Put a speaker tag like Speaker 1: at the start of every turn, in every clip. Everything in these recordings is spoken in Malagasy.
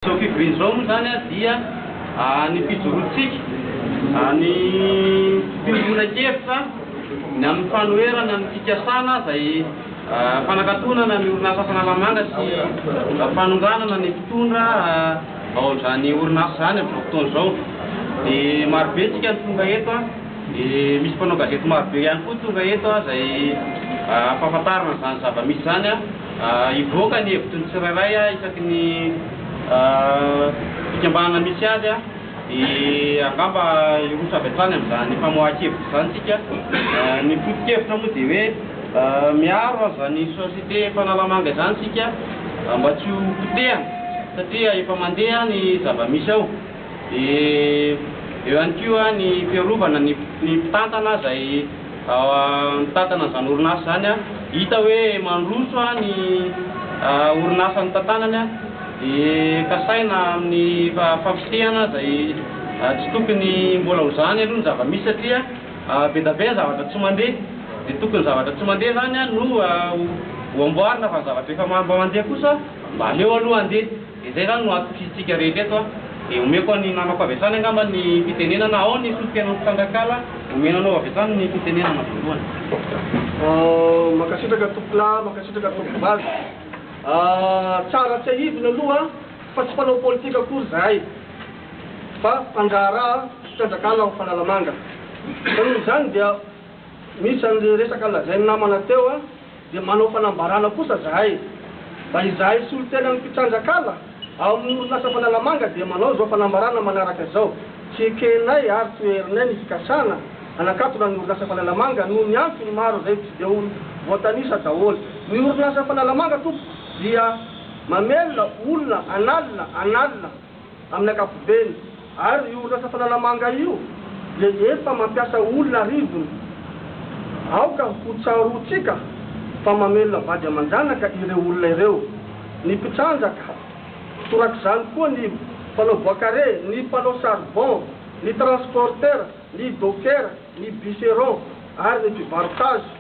Speaker 1: Izao fivoriana izao moa izany dia ny fijoroantsika, ny fiombonan-kevitra ny amin'ny fanoherana ny fikasana izay fanakatonana ny orinasa Fanalamanga sy fanonganana ny mpitondra ao amin'izany orinasa izany amin'izao fotoana izao. Dia marobe isika no tonga eto, dia misy mpanao gazety marobe ihany koa tonga eto izay ampahafantarina izany zava-misy izany. Hivoaka ny hevitry ny tsirairay isaky ny fikambanana misy azy dia angamba hiroso avy hatrany amin'izany famoahan-kevitra izany isika. Ny foto-kevitra moa dia hoe miaro an'izany société Fanalamanga izany isika mba tsy ho potehana satria efa mandeha ny zava-misy ao. Dia eo ihany koa ny fiarovana ny mpitantana izay mitantana izany orinasa izany, hita hoe mandroso ny orinasa nitantanany dia kasaina amin'ny fampiseana izay tsy tokony mbola ho izany aloha ny zava-misy satria be dia be ny zavatra tsy mandeha dia tokony ny zavatra tsy mandeha izany no ho amboarina fa ny zavatra efa mandeha kosa mba aleo aloha handeha. Dia izay izany no hatokisitsika rehetra eto an! Dia omeko an' i namako avy hatrany angamba ny fitenenana ao ny solontenan'ny mpitrangan-kala, omena anao avy hatrany ny fitenenana voalohany. Mankasitraka
Speaker 2: tompolahy, mankasitraka tompovavy. Tsara tsiahivina aloha fa tsy mpanao politika akory izahay fa mpandraharaha mpitrandrankala ao Fanalamanga. Ka noho izany dia misy an'ilay resaka lazain'ny namana teo. dia manao fanambarana kosa zahay mba izahay solontenan'ny mpitranjakala ao amin'ny orinasa Fanalamanga dia manao izao fanambarana manaraka izao, tsy ekenay ary tsy hoherinay ny fikasana hanakatona ny orinasa Fanalamanga noho ny antony maro izay tsy dia ho voatanisa daholo. Ny orinasa Fanalamanga tompoko dia mamelona olona an'alina an'alina. Amin'ny ankapobeny ary io orinasa Fanalamanga io dia efa mampiasa olona arivony. Aoka ho tsaroantsika fa mamelona vady aman-janaka ireo olona ireo, ny mpitrandraka, torak'izany koa ny mpanao bois carré, ny mpanao charbon, ny transporteurs, ny dockers, ny bûcherons ary ny mpivarotazy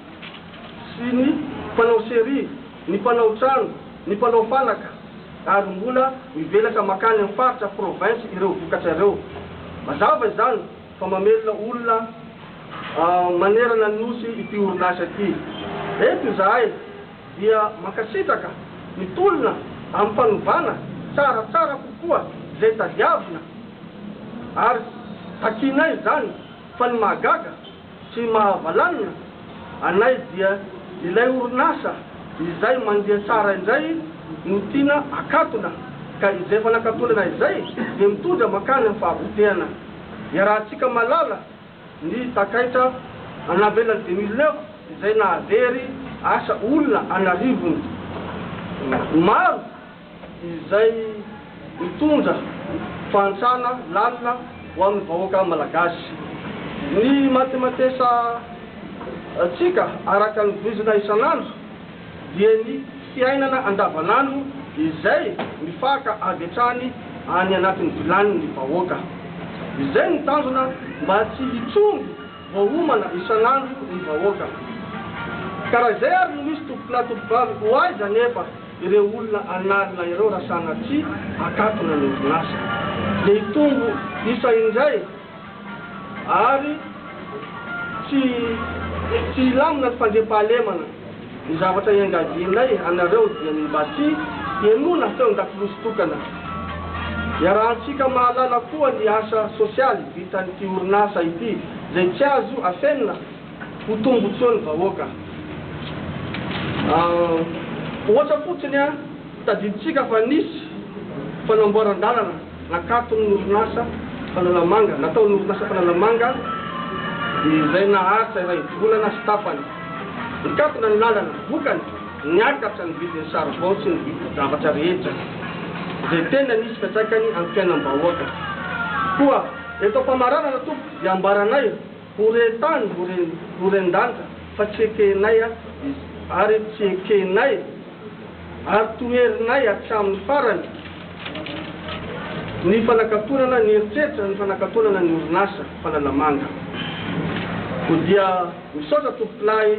Speaker 2: sy ny mpanao serie, ny mpanao trano, ny mpanao fanaka. ary mbola mivelatra mankany amin'ny faritra, province, ireo vokatra ireo. Mazava izany fa mamelona olona manerana ny Nosy ity orinasa ity. Eto izahay dia mankasitraka ny tolona amin'ny fanovana tsaratsara kokoa izay tadiavina ary takianay izany fa ny mahagaga Tsy mahavalanina anay dia ilay orinasa izay mandeha tsara indray no tiana akatona ka izay efa nakatolana izay dia mitondra mankany amin'ny fahabotehana. Iarahantsika malala ny takaitra en navelan'ny deux mille neuf izay nahavery asa olona an'arivony maro. izay mitondra fahantrana lalina ho amin'ny vahoaka malagasy. Ny matematesa ntsika araka ny voizina isan'andro dia ny fiainana andavan'andro izay mifaka avy hatrany any anatin'ny vilanin'ny vahoaka. Izay no tanjona mba tsy hitrongy. Vao homana isan'andro ny vahoaka. Ka raha izay ary no misy tompokolahy tompokovavy, ho aiza anefa ireo olona an'alina ireo raha sanatria akatona ny orinasa? Dia hitombo isa indray ary tsy tsy hilamina ny fandriampahalemana. Ny zavatra iangavianay anareo dia ny mba tsy henoina feo an-dakolosy tokana. Iarahantsika mahalala koa ny asa sosialy vitan'ity orinasa ity izay tsy azo afenina ho tombontsoan'ny vahoaka. Ohatra fotsiny, tadidintsika fa nisy fanamboaran-dalana. Nakaton'ny orinasa Fanalamanga, nataon'ny orinasa Fanalamanga dia izay naharitra iray volana sy tapany. Nikatona ny lalana, vokany, niakatra ny vidin'ny saribao sy ny vidin-javatra rehetra, izay tena nisy fiantraikany amin'ny fiainam-bahoaka. Koa eto am-pamaranana tompoko dia ambaranay Horen-tany, horen-danitra, fa tsy ekenay izy, ary tsy ekenay, ary toherinay hatramin'ny farany ny fanakatonana ny eritreritra, ny fanakatonana ny orinasa falalamanga. Koa dia misaotra Tompokolahy.